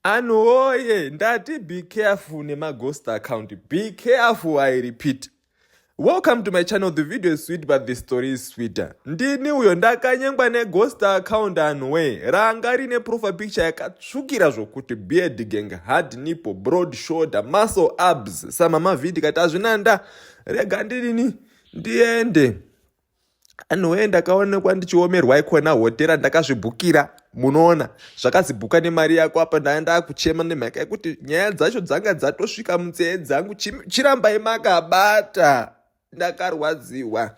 anhu woye ndati be careful nemaghost account be careful i repeat welcome to my channel the video is sweet but the story is sweeter ndini uyo ndakanyengwa neghost account anhu wee ranga rine profile picture yakatsvukira zvokuti beard gang hard nipo broad shoulder muscle abs samamavhidi kati hazvina nda rega ndinini ndiende anhuwee ndakaonekwa ndichiomerwa ikona hotera ndakazvibhukira munoona zvakazibhuka nemari yako apa ndaya ndakuchema nemhaka yekuti nyaya dzacho dzanga dzatosvika munzee dzangu chirambai makabata ndakarwadziwa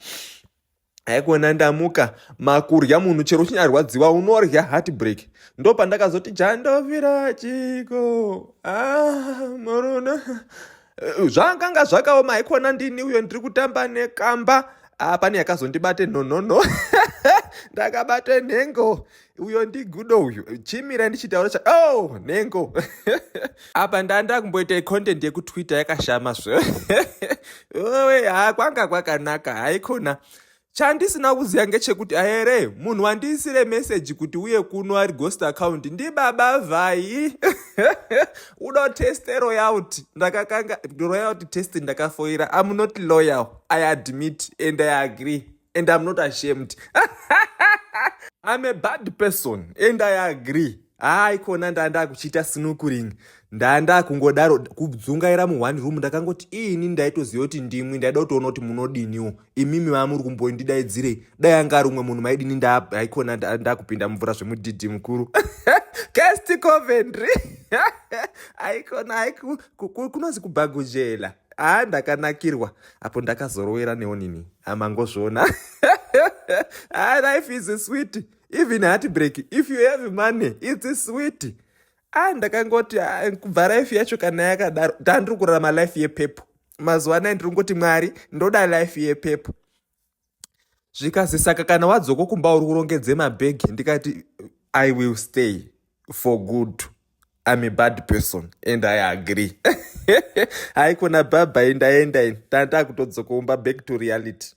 haikona ndamuka makurya munhu chero uchinyarwadziwa unorya heartbreak ndo pandakazoti chandovira chiko ah, muruna Eh, zvakanga zvakaoma haikona ndini uyo ndiri kutamba nekamba ah, pane yakazondibate nhonono ndakabate nhengo uyo ndigudo uyu chimira ndichitaura cha o oh, nhengo apa ndanda kumboita icontent yekutwitter yakashama zve oe ha kwanga kwakanaka haikona Chandisina kuziva ngechekuti ahere munhu wandiisire message kuti uye kuno ari ghost account ndibaba vhai uno test royout ndakakanga royout test ndakafoira am not loyal i admit and i agree and am not ashamed I'm a bad person and I agree. haa ikona ndaa ndakuchiita snukuring ndaa ndakungodaro kudzungaira muone room ndakangoti ini ndaitoziva kuti ndimwi ndaida kutoona kuti munodiniwo imimi vaa muri kumbondidaidzirei dai anga ari umwe munhu maidini ndaa haikona ndakupinda mumvura zvemudhidhi mukuru cast coventry haikona haiku kunonzi kubhagujela haa ndakanakirwa apo ndakazorowera neonini amangozviona haa life is sweet even heartbreak if you have money its sweet a ah, ndakangoti ah, kubva life yacho kana yakadaro ndandiri kurarama life yepepo mazuva anaya ndiri kungoti mwari ndoda life yepepo zvikazi saka kana wadzoko kumba uri kurongedze mabhegi ndikati i will stay for good I'm a bad person and I agree. Haikona baba indaenda ini. Tanda kutodzokomba back to reality.